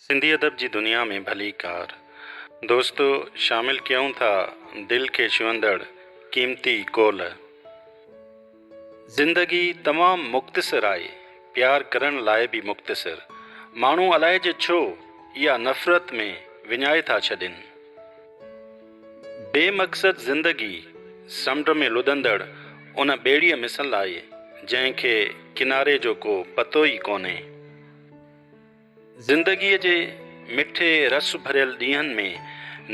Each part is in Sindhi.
سنڌي ادب جي دنيا ۾ ڀليڪار دوستو شامل ڪيون ٿا دل کي ڇهندڙ قيمتي قول. زندگي تمام مختصر آهي پيار ڪرڻ لاء به مختصر ماڻهو الائي جو ڇو اها نفرت ۾ وڃائي ٿا ڇڏين بي مقصد زندگي سمنڊ ۾ لڏندڙ ان ٻيڙيء مثل آهي جنهن کي ڪناري جو ڪو پتو ئي ڪونهي. زندگيء جي مٺي رس ڀريل ڏينهن ۾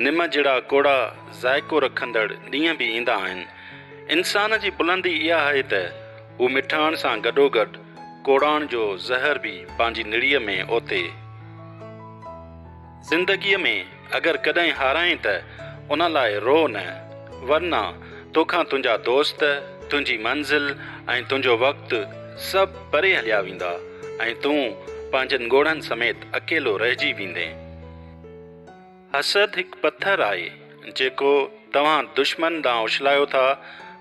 نم جھڙا ڪوڙا ذائقو رکندڙ ڏينهن به ايندا آهن. انسان جي بلندي اها آهي ته هو مٺاڻ سان گڏوگڏ ڪوڙاڻ جو زهر به پنهنجي نڙيء ۾ اوتي. زندگيء ۾ اگر ڪڏهن هارائين ته ان لاء روء نه، ورنه توکان تنهنجا دوست، تنهنجي منزل ۽ تنهنجو وقت سڀ پري هليا ويندا ۽ تون پنهنجن ڳوڙهن سميت اڪيلو رهجي ويندين. حسد هڪ پٿر آهي، جيڪو توهان دشمن ڏانهن اڇلايو ٿا،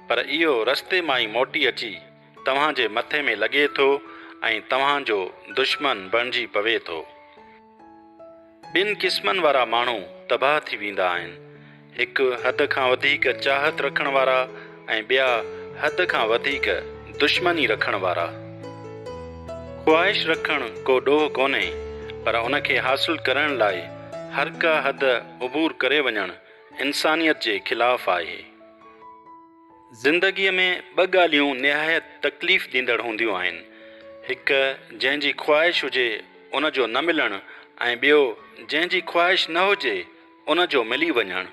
پر اهو رستي مان ئي موٽي اچي توهان جي مٿي ۾ لڳي ٿو ۽ توهان جو دشمن بڻجي پوي ٿو. ٻن قسمن وارا ماڻهو تباهه ٿي ويندا آهن، هڪ حد کان وڌيڪ چاهت رکڻ وارا ۽ ٻيا حد کان وڌيڪ دشمني رکڻ وارا. خواهش رکڻ ڪو ڏوهه ڪونهي، پر ان کي حاصل ڪرڻ لاء هرڪا حد عبور ڪري وڃڻ انسانيت جي خلاف آهي. زندگيء ۾ ٻه ڳالهيون نهايت تڪليف ڏيندڙ هونديون آهن، هڪ جنهن جي خواهش هجي ان جو نه ملڻ ۽ ٻيو جنهن جي خواهش نه هجي ان جو ملي وڃڻ.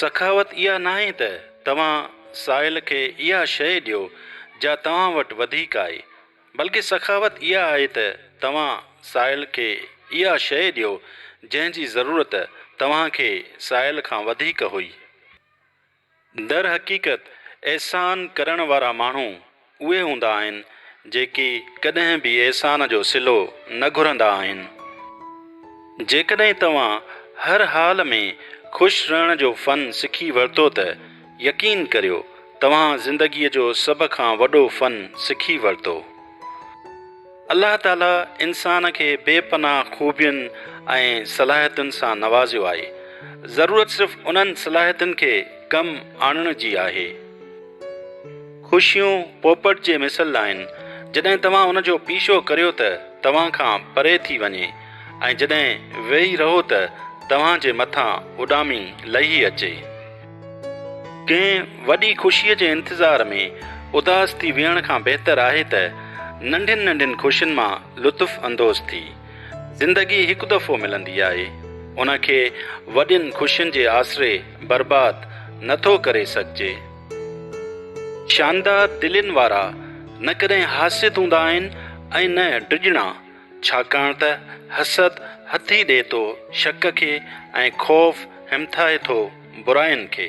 سخاوت اها ناهي ته توهان سائل کي اها شيء ڏيو جا توهان وٽ وڌيڪ آهي، بلڪه سخاوت اها آهي ته توهان سائل کي اها شيء ڏيو جنهن جي ضرورت توهان کي سائل کان وڌيڪ هئي. درحقيقت احسان ڪرڻ وارا ماڻهو اهي هوندا آهن جيڪي ڪڏهن به احسان جو صلو نه گهرندا آهن. جيڪڏهن توهان هر حال ۾ خوش رهڻ جو فن سکي ورتو ته يقين ڪريو توهان زندگيء جو سڀ کان وڏو فن سکي ورتو. الله تعاليٰ انسان کي بي پناهه خوبين ۽ صلاحيتن سان نوازيو آهي، ضرورت صرف انهن صلاحيتن کي ڪم آڻڻ جي آهي. خوشيون پوپٽ جي مثل آهن، جڏهن توهان ان جو پيڇو ڪريو ته توهان کان پري ٿي وڃي ۽ جڏهن ويهي رهو ته توهان جي مٿان اڏامي لهي اچي. ڪنهن وڏي خوشيء جي انتظار ۾ اداس ٿي ويهڻ کان بهتر آهي ته ننڍين ننڍين خوشين مان لطف اندوز ٿي. زندگي هڪ دفعو ملندي آهي، ان کي وڏين خوشين جي آسري برباد نه ٿو ڪري سگهجي. شاندار دلين وارا نه ڪڏهن حاسد هوندا آهن ۽ نه ڊڄڻا، ڇاڪاڻ ته حسد هٿي ڏئي ٿو شڪ کي ۽ خوف همٿائي ٿو. براين کي.